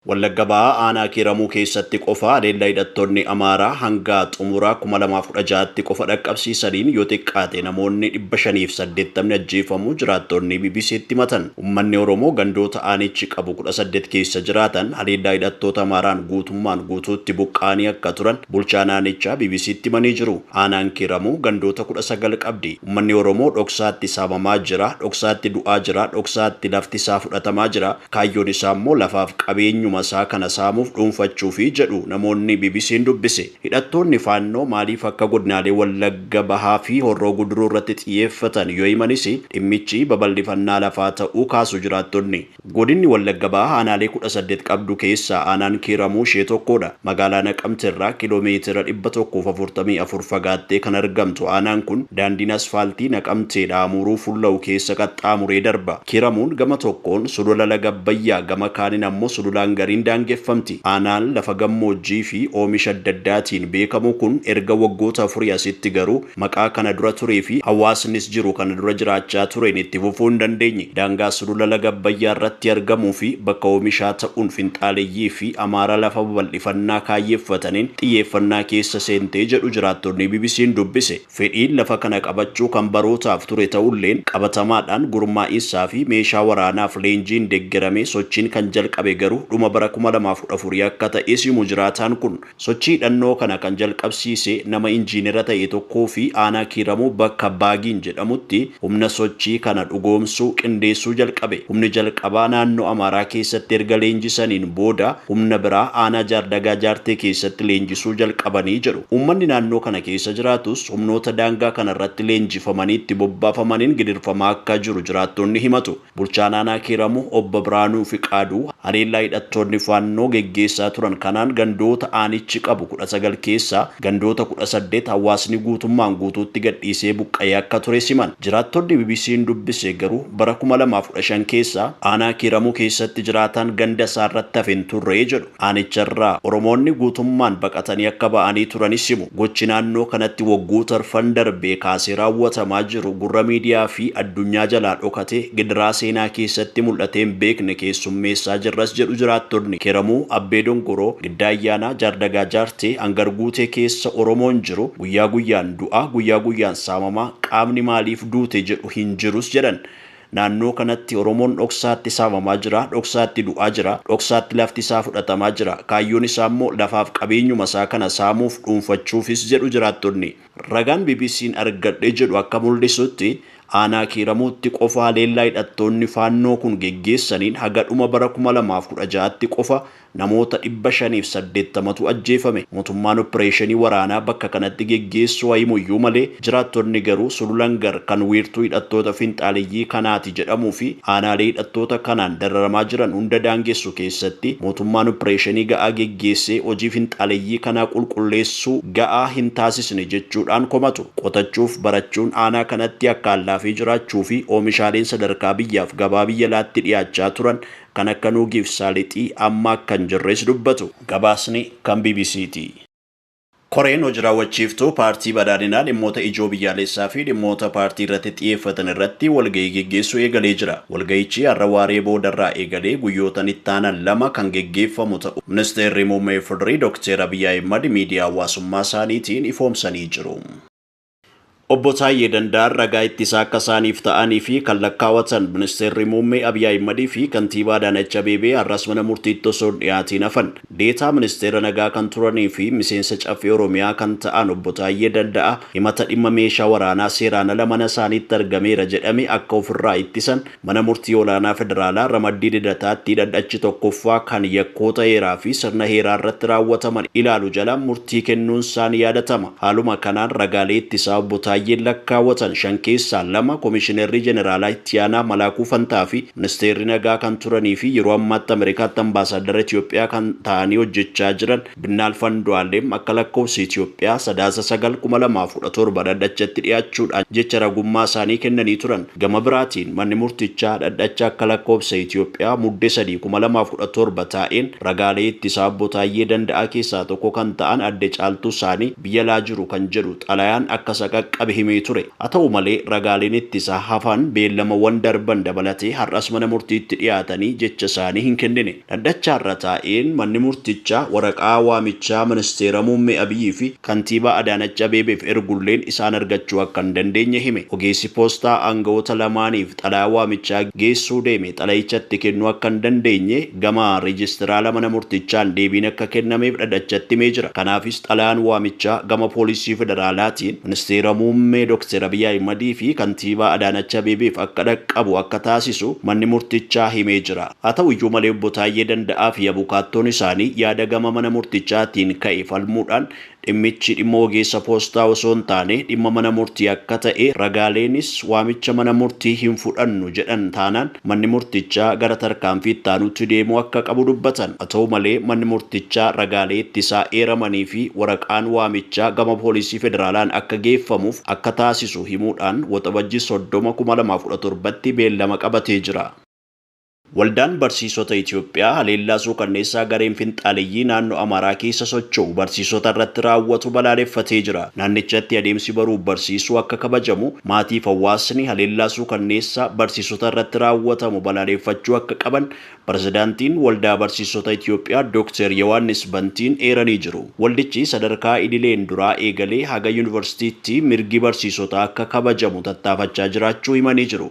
Wallagga Bahaa aanaa Kiiramuu keessatti qofa haleellaa hidhattoonni Amaaraa hanga xumura kuma lamaa fi kudha ja'atti qofa dhaqqabsiisaniin yoo xiqqaate namoonni dhibba shanii fi saddeettamni ajjeefamuu jiraattoonni BBC'tti himatan. Ummanni Oromoo gandoota aanichi qabu kudha saddeet keessa jiraatan haleellaa hidhattoota Amaaraan guutummaan guutuutti buqqa'anii akka turan bulchaan aanichaa BBC'tti himanii jiru. Aanaan Kiiramuu gandoota kudha sagal qabdi. Ummanni Oromoo dhoksaatti saamamaa jira, dhoksaatti du'aa jira, dhoksaatti lafti isaa fudhatamaa jira. Kaayyoon isaa immoo lafaaf qabeenyuma isaa kana saamuuf dhuunfachuufi jedhu namoonni BBC'n dubbise. Hidhattoonni Faannoo maaliif akka godinaalee Wallagga Bahaa fi Horroo Guduruu irratti xiyyeeffatan yoo himanis dhimmichi babal'ifannaa lafaa ta'uu kaasu jiraattonni. Godinni Wallagga Bahaa aanaalee 18 qabdu keessaa aanaan Kiiramuu ishee tokkoodha. Magaalaa Naqamte irraa kiiloo meetira 144 fagaattee kan argamtu aanaan kun daandiin asfaaltii Naqamteedhaa Amuuruu fulla'u keessa qaxxaamuree darba. Kiiramuun gama tokkoon Sulula Laga Abbayyaa, gama kaaniin ammoo Sulula Hangariin daangeffamti. Aanaan lafa gammoojjii fi oomisha adda addaatiin beekamu kun erga waggoota afurii asitti garuu maqaa kana dura turee fi hawaasnis jiru kana dura jiraachaa tureen itti fufuu hin dandeenye. Daangaa Sulula Laga Abbayyaa irratti argamuu fi bakka oomishaa ta'uun finxaaleyyii fi Amaaraa lafa babal'ifannaa kaayyeffataniin xiyyeeffannaa keessa seentee jedhu jiraattonni BBC'n dubbise. Fedhiin lafa kana qabachuu kan barootaaf ture ta'ulleen, qabatamaadhaan gurmaa'insaafi meeshaa waraanaaf leenjiin deggeramee sochiin kan jalqabe garuu dhuma bara kuma lamaa fi kudha afurii akka ta'es himu jiraataan kun. Sochii hidhannoo kana kan jalqabsiise nama injiinera ta'e tokkoofi aanaa Kiiramuu bakka Baagiin jedhamutti humna sochii kana dhugoomsu qindeessuu jalqabe. Humni jalqabaa naannoo Amaaraa keessatti erga leenjisaniin booda humna biraa aanaa Jaardagaa Jaartee keessatti leenjisuu jalqabani jedhu. Uummanni naannoo kana keessa jiraatus humnoota daangaa kana irratti leenjifamanii itti bobbaafamaniin gidirfamaa akka jiru jiraattonni himatu. Bulchaan aanaa Kiiramuu Obbo Birhaanuu Fiqaaduu haleellaa hidhattoonni Faannoo geggeessaa turan kanaan gandoota aanichi qabu kudha sagal keessaa gandoota kudha saddeet hawaasni guutummaan guutuutti gadhiisee buqqa'ee akka tures himan. Jiraattonni BBC'n dubbise garuu bara kuma lamaa fi kudha shan keessa aanaa Kiiramuu keessatti jiraataan ganda isaarratti hafe hin turre jedhu. Aanicharraa Oromoonni guutummaan baqatanii akka ba'anii turanis himu. Gochi naannoo kanatti waggoota'rfan darbee kaasee raawwatamaa jiru gurra miidiyaa fi addunyaa jalaa dhokatee gidiraa seenaa keessatti mul'atee hin beekne keessummeessaa jirras jedhu jiraattonni Kiramuu, Abbee Dongoroo, Giddaa Ayyaanaa, Jaardagaa Jaartee, Angar Guutee keessa Oromoon jiru guyyaa guyyaan du'a, guyyaa guyyaan saamamaa, qaamni maaliif duute jedhu hin jirus jedhan. Naannoo kanatti Oromoon dhoksaatti saamamaa jira, dhoksaatti du'aa jira, dhoksaatti lafti isaa fudhatamaa jira. Kaayyoon isaa immoo lafaaf qabeenyuma isaa kana saamuuf, dhuunfachuufis jedhu jiraattonni. Ragaan BBC'n argadhe jedhu akka muldhisutti, aanaa Kiiramuutti qofa haleellaa hidhattoonni Faannoo kun geggeessaniin haga dhuma bara kuma lamaa fi kudha ja'atti qofa Namoota 580tu ajjeefame. Mootummaan oppireeshinii waraanaa bakka kanatti geggeessu haa himuyyuu malee, jiraattonni garuu Sulula Ngar kan wiirtuu hidhattoota finxaaleyyii kanaati jedhamuufi aanaalee hidhattoota kanaan dararamaa jiran hunda daangessu keessatti mootummaan oppireeshinii ga'aa geggeessee hojii finxaaleyyii kanaa qulqulleessuu ga'aa hintaasisne jechuudhaan komatu. Qotachuuf barachuun aanaa kanatti akkaan laafee jiraachuufi oomishaaleen sadarkaa biyyaaf gabaa biyya alaatti dhiyaachaa turan kan akka nuugiif saalixii amma akka hin jirres dubbatu. Gabaasni kan bbc ti. Koreen hoji raawwachiiftuu Paartii Badhaadhinaa dhimmoota ijoo biyyaalessaa fi dhimmoota paartii irratti xiyeeffatan irratti walgahii geggeessuu eegalee jira. Walgahichi har'a waaree booda irraa eegalee guyyootan itti aanan lama kan geggeeffamu ta'uu Ministeerri Muummee Ifdri Dokteer Abiy Ahimad miidiyaa hawaasummaa isaaniitiin ifoomsanii jiru. Obbo Taayyee Danda'aan ragaa ittisaa akka isaaniif ta'anii fi kan lakkaawatan Ministeerri Muummee Abiy Ahimad fi Kantiibaa Adaanach Abeebee har'as mana murtiitti osoo hin dhiyaatiin hafan. Deetaa Ministeera Nagaa kan turanii fi miseensa Caffee Oromiyaa kan ta'an Obbo Taayyee Danda'aa himata dhimma meeshaa waraanaa seeraan ala mana isaaniitti argameera jedhame akka ofirraa ittisan Mana Murtii Olaanaa Federaalaa ramaddii Lidataatti dhadhachi tokkoffaa kan yakkoota heeraa fi sirna heeraa irratti raawwataman ilaalu jala murtii kennuunsaa ni yaadatama. Haaluma kanaan ragaalee ittisaa Obbo Taayyeen lakkaawwatan shan keessaa lama Komishinerri Jeneraalaa Itti Aanaa Malaakuu Fantaa fi Ministeerri Nagaa kan turanii fi yeroo ammaatti Ameerikaatti Ambaasaaddara Itoophiyaa kan ta'anii hojjechaa jiran Binnaalf Andu'aalem akka lakkoofsa Itiyoophiyaa Sadaasa 9, 2017 dhaddachatti dhiyaachuudhaan jecha ragummaa isaanii kennanii turan. Gama biraatiin manni murtichaa dhaddacha akka lakkoofsa Itiyoophiyaa Mudde 3, 2017 taa'een ragaalee ittisaa Obbo Taayyee Danda'aa keessaa tokko kan ta'an Adde Caaltuu Saanii biyya alaa jiru kan jedhu xalayaan akka isa qaqqabe himee ture. Haa ta'u malee ragaaleen ittisaa hafan beellamawwan darban dabalatee har'as mana murtiitti dhiyaatanii jecha isaanii hin kennine. Dhaddachaarra taa'een manni murtichaa waraqaa waamichaa Ministeera Muummee Abiyyii fi Kantiibaa Adaanach Abeebeef ergulleen isaan argachuu akka hin dandeenye hime. Ogeessi poostaa aanga'oota lamaaniif xalayaa waamichaa geessuu deeme xalayicha itti kennuu akka hin dandeenye gama Reejistiraala mana murtichaan deebiin akka kennameef dhadhachatti himee jira. Kanaafis xalayaan waamichaa gama Poolisii Federaalaatiin Ministeera Muummee Doktar Abiy Ahimadii fi Kantiibaa Adaanach Abeebeef akka dhaqqabu akka taasisu manni murtichaa himee jira. Haa ta'u iyyuu malee Obbo Taayyee Danda'aa fi abukaattoon isaanii yaada gama mana murtichaatiin ka'e falmuudhaan dhimmichi dhimma ogeessa poostaa osoo hin taane dhimma mana murtii akka ta'e ragaaleenis waamicha mana murtii hin fudhannu jedhan taanaan manni murtichaa gara tarkaanfii itti aanutti deemuu akka qabu dubbatan. Haa ta'u malee manni murtichaa ragaalee ittisaa eeramanii fi waraqaan waamichaa gama poolisii federaalaan akka geeffamuuf akka taasisu himuudhaan Waxabajjii 30, 2017tti beellama qabatee jira. Waldaan Barsiisota Itoophiyaa haleellaa suukanneessaa gareen finxaaleyyii naannoo Amaaraa keessa socho'u barsiisota irratti raawwatu balaaleffatee jira. Naannichatti adeemsi baruuf barsiisuu akka kabajamu, maatiif hawaasni haleellaa suukanneessaa barsiisota irratti raawwatamu balaaleeffachuu akka qaban Pirezidaantiin Waldaa Barsiisota Itoophiyaa Dooktar Yowaannis Bantiin eeranii jiru. Waldichi sadarkaa idileen duraa eegalee haga Yuunivarsiitiitti mirgi barsiisotaa akka kabajamu tattaafachaa jiraachuu himanii jiru.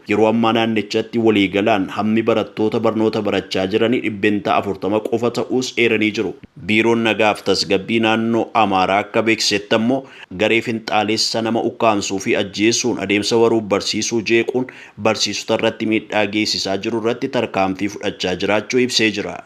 Yeroo ammaa naannichatti waliigalaan hammi barattoota barnoota barachaa jiranii dhibbentaa afurtama qofa ta'uus eeranii jiru. Biiroon Nagaaf Tasgabbii Naannoo Amaaraa akka beeksisetti ammoo garee finxaaleessa nama ukkaamsuufi ajjeesuun adeemsa baruuf barsiisuu jeequun barsiisotarratti miidhaa geessisaa jirurratti tarkaanfii fudhachaa jiraachuu ibsee jira.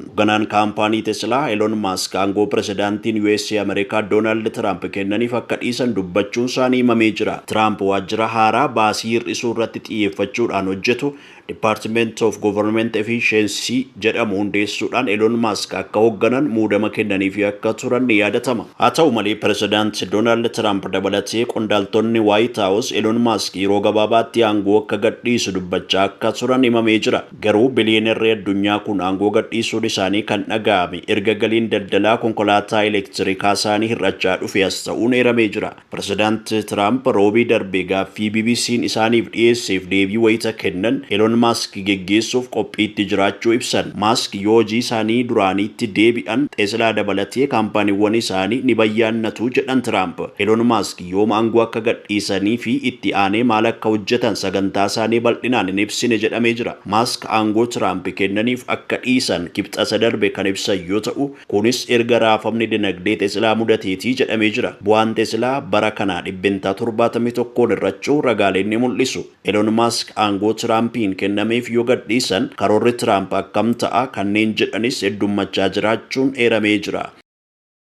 Hogganaan kaampaanii Teslaa Elon Maask aangoo pirezidaantiin usa Ameerikaa Doonaald Tiraamp kennaniif akka dhiisan dubbachuunsaanii himamee jira. Tiraamp waajjira haaraa baasii hir'isuu irratti xiyyeeffachuudhaan hojjetu Department of Government Efficiency jedhamu hundeessuudhaan Elon Maask akka hogganan muudama kennaniifii akka turan ni yaadatama. Haa ta'u malee pirezidaant Doonaald Tiraamp dabalatee qondaaltonni Waayit Haawus Elon Maask yeroo gabaabaatti aangoo akka gadhiisu dubbachaa akka turan himamee jira. Garuu biliyeenarri addunyaa kun aangoo gadhiisuun isaanii kan dhaga'ame erga galiin daldalaa konkolaataa elektirikaasaanii hir'achaa dhufee as ta'uun eeramee jira. Pirezidaant Tiraamp Roobii darbe gaaffii BBC'n isaaniif dhiyeesseef deebii wayita kennan Elon Maask geggeessuuf qophiitti jiraachuu ibsan. Maask yoo hojiisaanii duraaniitti deebi'an Teslaa dabalatee kaampaaniiwwan isaanii ni bayyaannatu jedhan Tiraamp. Elon Maask. yoom aangoo akka gadhiisanii fi itti aanee maal akka hojjetan sagantaasaanii bal'inaan hin ibsine jedhamee jira. Maask aangoo Tiraamp kennaniif akka dhiisan Kibxata darbe kan ibsan yoo ta'u, kunis erga raafamni dinagdee Teslaa mudateeti jedhamee jira. Bu'aan Teslaa bara kanaa dhibbentaa torbaatamii tokkoon hir'achuu ragaaleen ni mul'isu. Elon Maask aangoo Tiraampiin kennameef yoo gadhiisan karoorri Tiraamp akkam ta'a kanneen jedhanis heddummachaa jiraachuun eeramee jira.